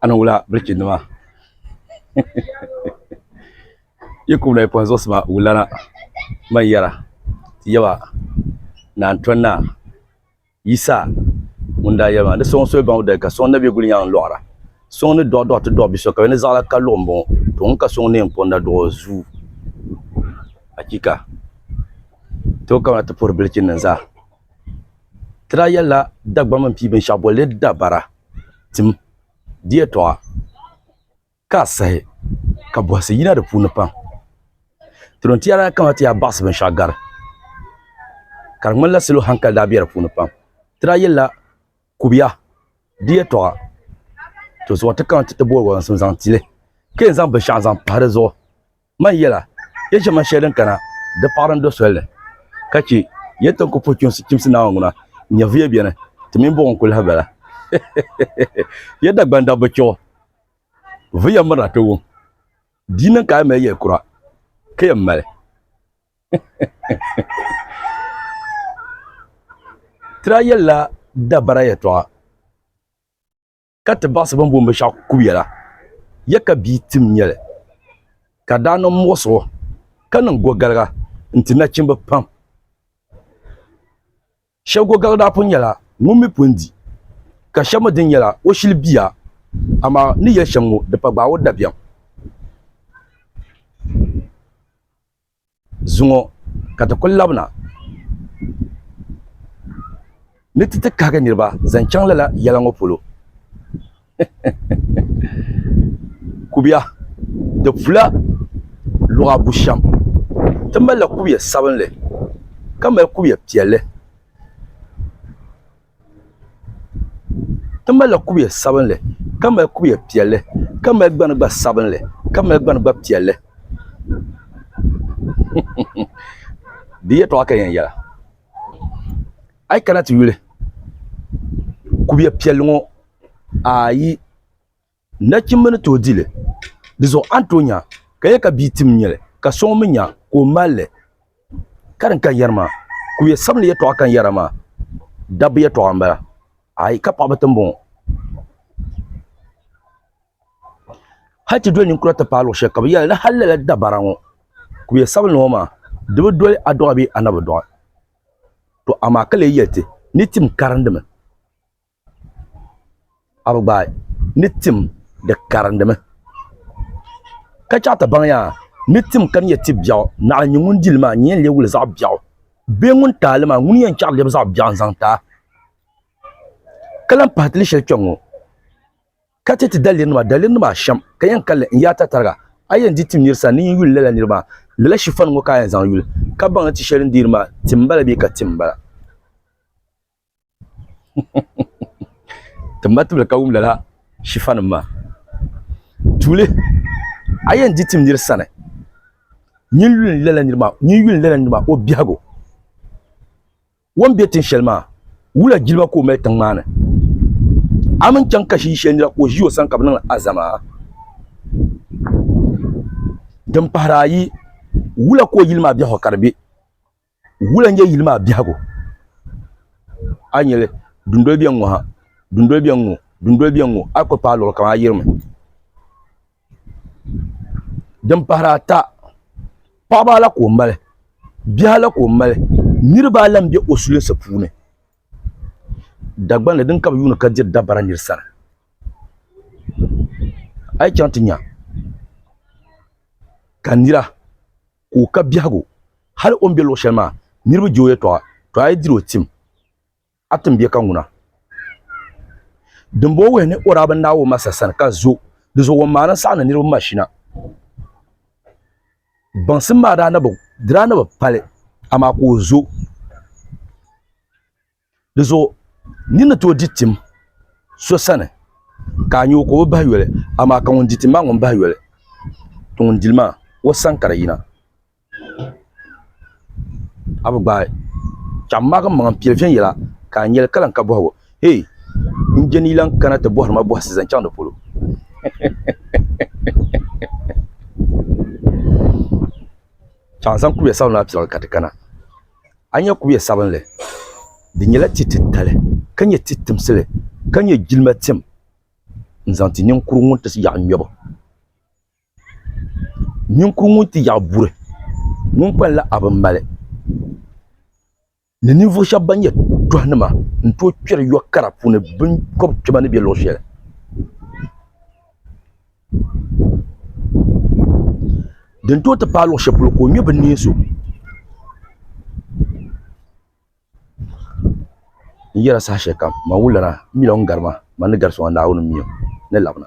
a ni wula biriki nima yi ku wula yi pɔhim zuɣusi maa wulana man yɛra ti yaba naan tɔn naa Yisa ŋun daa yɛli maa ni sɔŋ soli baŋ o dali ka sɔŋ na bɛ guli nyaŋ n-lɔɣira sɔŋ ni dɔɣi dɔɣi ti dɔɣi biso ka bɛ ni zaɣila ka luɣi m-bɔŋɔ to ŋun ka sɔŋ neen pɔŋ na duɣi o zuu achiika! Ti bi kabina ti puhiri bilichini nim zaa. Ti daa yɛlila Dagbamba n-pii binshɛɣu boli li dabara tim di yɛtɔɣa ka a sahi ka bɔhisi yina di puuni pam. Tiriba n-ti yaa daa kana ti yaa baɣisi binshɛɣu gari ka di ŋmanila salo hankali daa be di puuni pam. Ti daa yɛlila Kubiya di yɛtɔɣa tɔ zuɣu n-ti kana ti ti boli walansim zaŋ ti li ka yɛn zaŋ binshɛɣu zaŋ pahi di zuɣu. Man yɛla, ya ʒiɛma shɛli din kana di paɣiri n-do soli ni, ka chɛ ya ti ni ku puhi chimsi chimsi Naawuni ŋuna n-nyɛ vuya beni ti mini buɣim kulahi bala. Ya Dagbani dabba chɛ o vuya mirina ti wum, di niŋ ka a mali yɛl kura, ka yɛn mali tiri a yɛlila dabara yɛtɔɣa. ka ti baɣisi bɛn booni binshɛɣu kubiya la, ya ka bia tim nyɛli, ka daa niŋ muɣisigu ka niŋ gogaliga n-ti nachimba pam. Shɛba gogaliga daa pun nyɛla ŋun mi pun di, ka shɛba mi dini nyɛla o shili bia, amaa ni yɛli shɛm ŋɔ di pa gbaai o dabiɛm. Zuŋɔ ka ti kul labina ni ti ti kahigi niriba zaŋ chaŋ lala yɛla ŋɔ polo. Kubiya di pula luɣa bushɛm. Ti malila kubiya sabinli ka mali kubiya piɛlli. Ti malila kubiɛ sabinli ka mali kubiɛ piɛlli ka mali gbani gba sabinli ka mali gbani gba piɛlli di yɛltɔɣa ka yɛn yɛla a yi kana ti yuli kubiɛ piɛlli ŋɔ ayi Nachimba ni tooi di li. Di zuɣu a ni tooi nya ka yɛli ka bia tim nyɛli ka so ŋun mi nya ka o mali li. Ka din kan yɛri maa, kuruya sabinli yɛtɔɣa kan yɛra maa, dabba yɛtɔɣa m-bala, aai ka paɣiba ti m-bɔŋɔ. Hal ti doli ninkura ti paai luɣ shɛli ka bɛ yɛli ni hal lala dabara ŋɔ, kuruya sabinli ŋɔ maa, di bi doli a dɔɣi bee a na bi dɔɣi. Tɔ amaa ka lee yɛli ti ni tim karindimi. a bi gbaai ni tim di karindimi ka chɛɣu ti baŋya ni tim ka nyɛ ti biɛɣu naɣa n nyɛ ŋun dili maa n yɛn lee wuli zaɣ biɛɣu bee ŋun taali maa ŋuni n yɛn chɛɣu lɛbi zaɣ biɛɣu n zaŋ taai ka lahi pahi ti ni shɛli kpɛ ŋɔ ka chɛ ti daliri nima daliri nim ashɛm ka yɛn kanli n yaai tatariga a yi yɛn di tim nira sani ni yin yuli lala nira maa lala shifan ŋɔ ka a yɛn zaŋ yuli ka baŋ ni ti shɛli n deeri maa tim n bala bee ka tim n bala ti ma tibili ka wum lala shifa nim maa tuuli a yɛn di tim niri sani nyin yuli lala niri maa nyin yuli lala niri maa o biɛhigu wan bɛ tin shɛli maa wula jilima ka o mali tiŋ maa ni a min chaŋ ka shii shɛli nira ka o ʒi o sani ka bi niŋ azama din pahari ayi wula ka o yili maa biɛhigu ka di bɛ Wula n-nyɛ yili maa biɛhigu? A yi nya li, dundoli beni ŋɔ ha, dundoli beni ŋɔ, dundoli beni ŋɔ, a yi kuli paai luɣili kam a yirimi. Din pahiri ata, paɣiba ala ka o mali, biɛhi ala ka o mali, niriba ala m-be o sulinsi puuni. Dagbani din ka bi yuuni ka diri dabara nir sani. A yi chaŋ ti nya ka nira. ka o ka biɛhigu. Hal o ni be luɣ shɛli maa, niriba je o yɛtɔɣa, tɔ a yi diri o tim, a tim bɛ ka ŋuna. Dimbɔŋɔ wuhi ni o daa bi naai o masa sani ka zo di zuɣu o maani n-saɣindi niriba mashina. Baŋsim maa daa na bi, di daa na bi pali, amaa ka o zo. Di zuɣu nyin ni tooi di tim so sani, ka a nya o ka o bi bahi yoli, amaa ka ŋun di tim maa ŋun bahi yoli, ti ŋun di li maa, o sani ka di yina. A bi gbaai chɛɣu m-maagi m-maŋa m-pili viɛnyɛla, ka a nya li ka lan ka bɔhigu, Hee! N je ni yi lan kana ti bɔhiri ma bɔhisi zaŋ chaŋ di polo? Chɛɣu zaŋ kuliya sabinli maa piliɣili ka ti kana. a nya kubiɛ sabinli. Di nyɛla ti titali ka nyɛ ti timsili ka nyɛ jilima tim n-zaŋ ti ninkuru ŋun ti yaɣi ŋmɛbu. Ninkuru ŋun ti yaɣi buri ŋun kpalinla a bi mali ni ninvuɣ shɛb bɛn nyɛ tɔhinima n-tooi kpɛri yɔ kara puuni binkɔbikpɛma ni be luɣ shɛli. din tooi ti paai luɣu shɛli polo ka o nyɛ bi ni so n yɛra saha shɛli kam maa wulila na n mi o ni gari maa maa ni gari so maa Naawuni n mi o ni labina